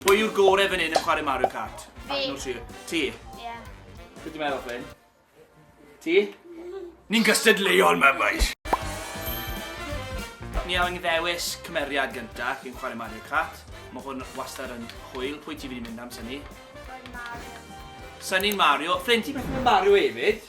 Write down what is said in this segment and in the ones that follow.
Pwy yw'r gore fan hyn yn chwarae Mario Kart? Fi. No, ti. Ti? Ie. Beth ti'n meddwl, Ffyn? Ti? Ni'n gystadleuol, mae boys! Ni angen ddewis cymeriad gynta cyn chwarae Mario Kart. Mae hwn wastad yn hwyl. Pwy ti'n mynd i mynd am, Sunny? Sunny'n Mario. Ffyn, ti'n mynd Mario hefyd?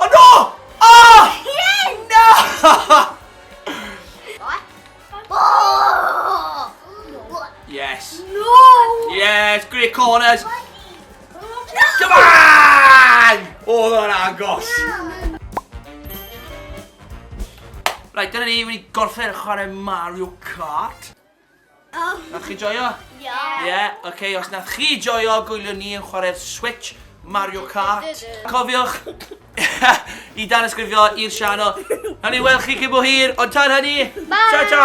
Oh no! Oh! Yes! No! Yes. No! Yes, great corners. Come on! Oh, that agos. Right, dyna ni, wedi gorffen chwarae Mario Kart. Nath chi joio? Ie. Ie, ok, os nath chi joio, gwyliwn ni yn chwarae'r Switch, Mario Kart. Cofiwch i danysgrifio i'r sianel. Nawn ni weld chi cyn bo hir, ond tan hynny, ta-ta!